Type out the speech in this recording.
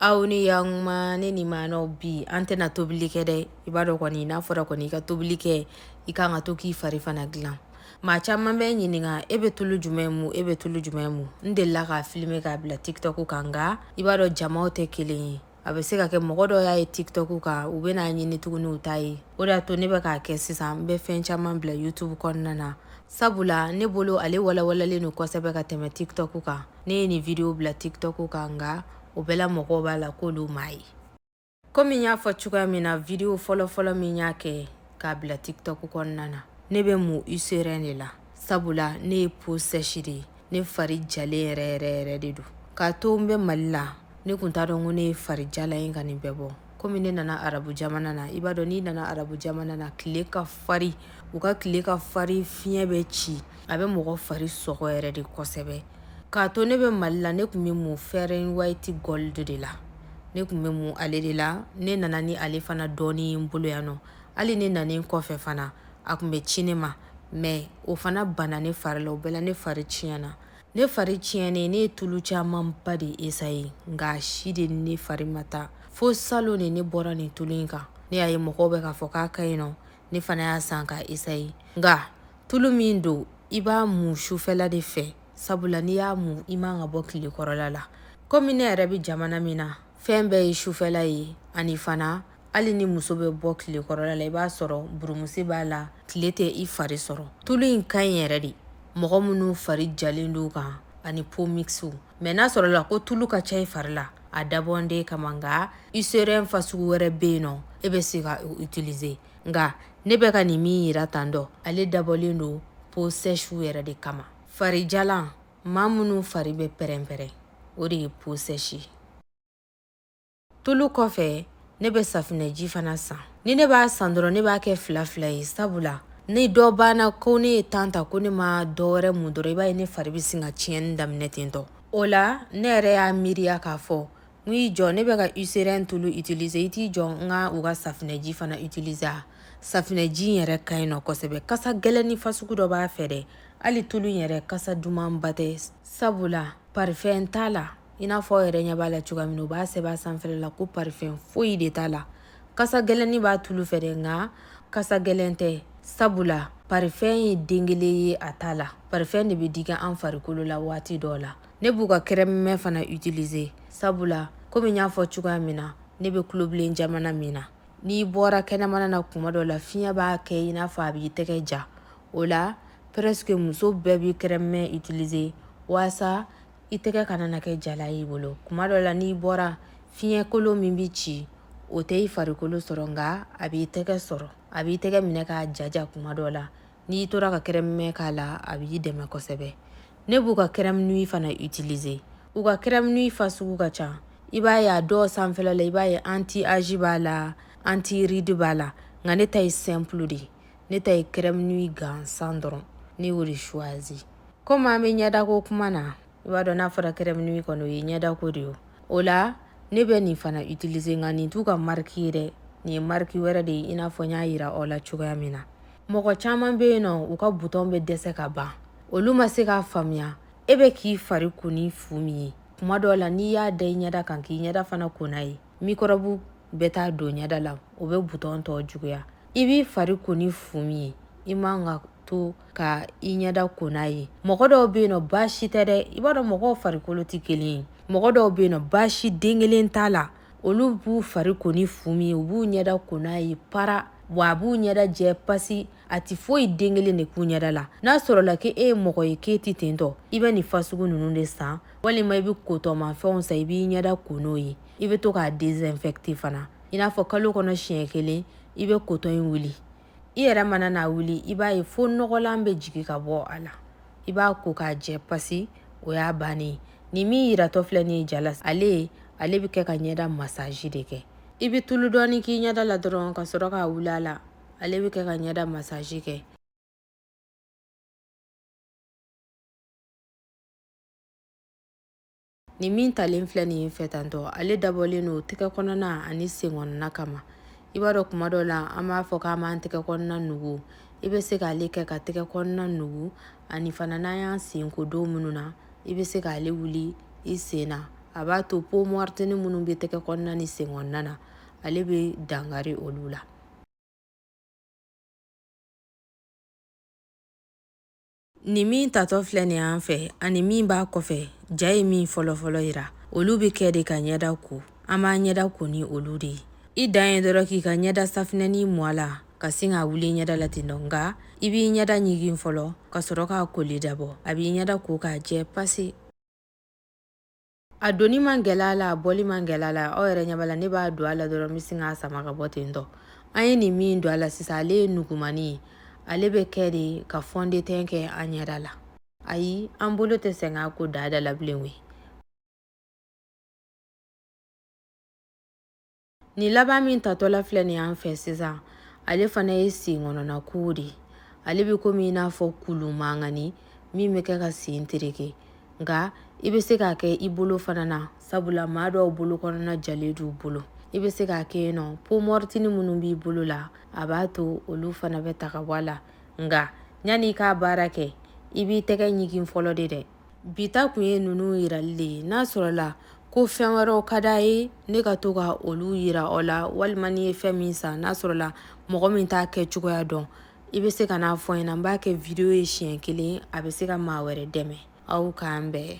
aw ni yakuma ne ni maana bi an tɛna tobili kɛ dɛ i b'a dɔn kɔni n'a fɔra kɔni i ka tobili kɛ i ka kan ka to k'i fari fana dilan maa caman bɛ ɲininka e bɛ tulu jumɛn mu e bɛ tulu jumɛn mu n delila k'a filime k'a bila tiktok kan nka i b'a dɔn jamaw tɛ kelen ye a bɛ se ka kɛ mɔgɔ dɔ y'a ye tiktok kan u bɛn'a ɲini tuguni u t'a ye o de y'a to ne bɛ k'a kɛ sisan n bɛ fɛn caman bila youtube kɔnɔna na sabula ne bolo ale walawalalen don kosɛbɛ ka tɛmɛ tiktok kan ne ye nin video bila tiktok kan nka o bɛɛ la mɔgɔw b'a la k'olu m'a ye komi n y'a fɔ cogoya min na video fɔlɔfɔlɔ min y'a kɛ k'a bila tiktok kɔnɔna na ne bɛ mun eucerin de la sabula ne ye peau sèche de ye ne fari jalen yɛrɛ yɛrɛ yɛrɛ de don k'a to n bɛ mali la ne kun t'a dɔn ko ne ye fari jalan ye ka nin bɛɛ bɔ komi ne nana arabu jamana na i b'a dɔn n'i nana arabu jamana na tile ka fari u ka tile ka fari fiɲɛ bɛ ci a bɛ mɔgɔ fari sɔgɔ yɛrɛ de kosɛbɛ k'a to ne bɛ mali la ne kun bɛ mun fair and white gold de la ne kun bɛ mun ale de la ne nana ni ale fana dɔɔni n bolo yan nɔ hali ne nanen kɔfɛ fana a kun bɛ ci ne ma mɛ o fana bana ne fari la o bɛɛ la ne fari tiɲɛna ne fari tiɲɛnen ne ye tulu camanba de essayer nka si de ne fari ma taa fo salon de ne bɔra nin tulu in kan ne y'a ye mɔgɔw bɛ k'a fɔ k'a ka ɲi nɔ ne fana y'a san k'a essayer nka tulu min don i b'a mu sufɛla de fɛ sabula n'i y'a mu i man ka bɔ tile kɔrɔla la komi ne yɛrɛ bɛ jamana min na fɛn bɛɛ ye sufɛla ye ani fana hali ni muso bɛ bɔ tile kɔrɔla la i b'a sɔrɔ burumusi b'a la tile tɛ i fari sɔrɔ tulu in ka ɲi yɛrɛ de mɔgɔ minnu fari jalen don kan ani peau mixtew mɛ n'a sɔrɔla ko tulu ka ca i fari la a dabɔlen t'e kama nka eucerin fasugu wɛrɛ bɛ yen nɔ e bɛ se k'o utiliser nka ne bɛ ka nin min yira tan dɔ ale dabɔlen don peau sèchew yɛrɛ de kama farijalan maa minnu fari bɛ pɛrɛnpɛrɛn o de ye peau sèche tulu kɔfɛ ne bɛ safinɛji fana san ni ne b'a san dɔrɔn ne b'a kɛ fila fila ye sabula ni dɔ banna ko ne ye temps ta ko ne ma dɔ wɛrɛ mun dɔrɔn i b'a ye ne fari bɛ sin ka tiɲɛni daminɛ ten tɔ o la ne yɛrɛ y'a miiriya k'a fɔ n y'i jɔ ne bɛ ka eucerin tulu utiliser i t'i jɔ n ka u ka safinɛji fana utiliser a safinɛji in yɛrɛ ka ɲi nɔ kosɛbɛ kasa gɛlɛnni fasugu dɔ b'a fɛ dɛ hali tulu in yɛrɛ kasa dumanba tɛ sabula parifɛn t'a la i n'a fɔ yɛrɛ ɲɛ b'a la cogoya min na u b'a sɛbɛn a sanfɛla la ko parifɛn foyi de t'a la kasa gɛlɛnni b'a tulu fɛ dɛ nka kasa gɛlɛn tɛ sabula parifɛn ye den kelen ye a t'a la parifɛn de bɛ digi an farikolo la waati dɔw la ne b'u ka kɛrɛmɛ fana utiliser sabula komi n y'a fɔ cogoya min na ne bɛ kulobilen jamana min na n'i bɔra kɛnɛmana na kuma dɔ la fiɲɛ b'a kɛ i n'a fɔ a b'i tɛgɛ ja o la presque muso bɛɛ bɛ kɛrɛmɛ utiliser waasa i tɛgɛ kana na kɛ jala y'i bolo kuma dɔ la n'i bɔra fiɲɛkolo min bɛ ci o tɛ i farikolo sɔrɔ nka a b'i tɛgɛ sɔrɔ a b'i tɛgɛ minɛ k'a jaja kuma dɔ la n'i tora ka crème main k'a la a b'i dɛmɛ kosɛbɛ ne b'u ka crème nuit fana utiliser u ka crème nuit fasugu ka ca i b'a ye a dɔw sanfɛla la i b'a ye anti âge b'a la anti ride b'a la nka ne ta ye simple de ye ne ta ye crème nuit gansan dɔrɔn ne y'o de choisi komi an bɛ ɲɛdako kuma na i b'a dɔn n'a fɔra crème nuit kɔni o ye ɲɛdako de ye o la ne bɛ nin fana itilize nka nin t'u ka mariki ye dɛ nin ye mariki wɛrɛ de ye i n'a fɔ n y'a yira aw la cogoya min na mɔgɔ caman bɛ yen nɔ u ka butɔn bɛ dɛsɛ ka ban olu ma se k'a faamuya e bɛ k'i fari ko ni fu min ye kuma dɔw la n'i y'a da i ɲɛda kan k'i ɲɛda fana ko n'a ye mikɔrɔbu bɛ taa don ɲɛda la o bɛ butɔn tɔ juguya i b'i fari ko ni fu min ye i man ka to ka i ɲɛda ko n'a ye mɔgɔ dɔw bɛ yen nɔ baasi tɛ dɛ i b'a dɔn mɔgɔw farikolo tɛ kelen ye mɔgɔ dɔw bɛ yen nɔ baasi den kelen t'a la olu b'u fari ko ni fu min ye u b'u ɲɛda ko n'a ye para wa a b'u ɲɛda jɛ pasi a tɛ foyi den kelen de k'u ɲɛda la n'a sɔrɔla k'e ye mɔgɔ ye k'e tɛ ten tɔ i bɛ nin fasugu ninnu de san walima i bɛ kotɔnmafɛnw san i b'i ɲɛda ko n'o ye i bɛ to k'a désinfecter fana i n'a fɔ kalo kɔnɔ siɲɛ kelen i bɛ kotɔn in wuli i yɛrɛ mana n'a wuli i b'a ye fo nɔgɔlan bɛ jigin ka bɔ a la i b'a ko k'a jɛ pasi o y'a bannen ye nin min yiratɔ filɛ nin ye ja la ale ale bɛ kɛ ka ɲɛda masaji de kɛ i bɛ tulu dɔɔni k'i ɲɛda la dɔrɔn ka sɔrɔ k'a wuli a la ale bɛ kɛ ka ɲɛda masaji kɛ Nin min talen filɛ nin ye n fɛ tan tɔ ale dabɔlen don tɛgɛ kɔnɔna ani sen kɔnɔna kama i b'a dɔn kuma dɔ la an b'a fɔ k'an b'an tɛgɛ kɔnɔna nugu i bɛ se k'ale kɛ ka tɛgɛ kɔnɔna nugu ani fana n'an y'an sen ko don minnu na i bɛ se k'ale wuli i sen na a b'a to peau morte nin minnu bɛ tɛgɛ kɔnɔna ni sen kɔnɔna na ale bɛ dankari olu la Nin min tatɔ filɛ nin y'an fɛ ani min b'a kɔfɛ ja ye min fɔlɔfɔlɔ yira olu bɛ kɛ de ka ɲɛda ko an b'an ɲɛda ko ni olu de ye i dan ye dɔrɔn k'i ka ɲɛda safinɛnin mɔ a la ka sin k'a wuli ɲɛda la ten tɔ nka i b'i ɲɛda ɲigin fɔlɔ ka sɔrɔ k'a koli dabɔ a b'i ɲɛda ko k'a jɛ pase a donni man gɛlɛn a la a bɔli man gɛlɛn a la aw yɛrɛ ɲɛ b'a la ne b'a don a la dɔrɔn n bɛ sin k'a sama ka bɔ ten tɔ an ye nin min don a la sisan ale ye nugumannin ye ale bɛ kɛ de ka fɔndetɛn kɛ an ɲɛda la ayi an bolo tɛ sɛgɛn ko da da la bilen koyi Nin laban min tatɔla filɛ nin y'an fɛ sisan ale fana ye sen kɔnɔna ko de ye ale bɛ komi i n'a fɔ kulu mankani min bɛ kɛ ka sen tereke nka i bɛ se k'a kɛ i bolo fana na sabula maa dɔw bolo kɔnɔna jalen d'u bolo i bɛ se k'a kɛ yen nɔ peau morte nin minnu b'i bolo la a b'a to olu fana bɛ ta ka bɔ a la nka yanni i k'a baara kɛ i b'i tɛgɛ ɲigin fɔlɔ de dɛ bi ta kun ye ninnu yirali de ye n'a sɔrɔla ko fɛn wɛrɛw ka d'a ye ne ka to ka olu yira aw la walima n'i ye fɛn min san n'a sɔrɔla mɔgɔ min t'a kɛ cogoya dɔn i bɛ se ka na a fɔ n ɲɛna n b'a kɛ video ye siɲɛ kelen a bɛ se ka maa wɛrɛ dɛmɛ aw k'an bɛn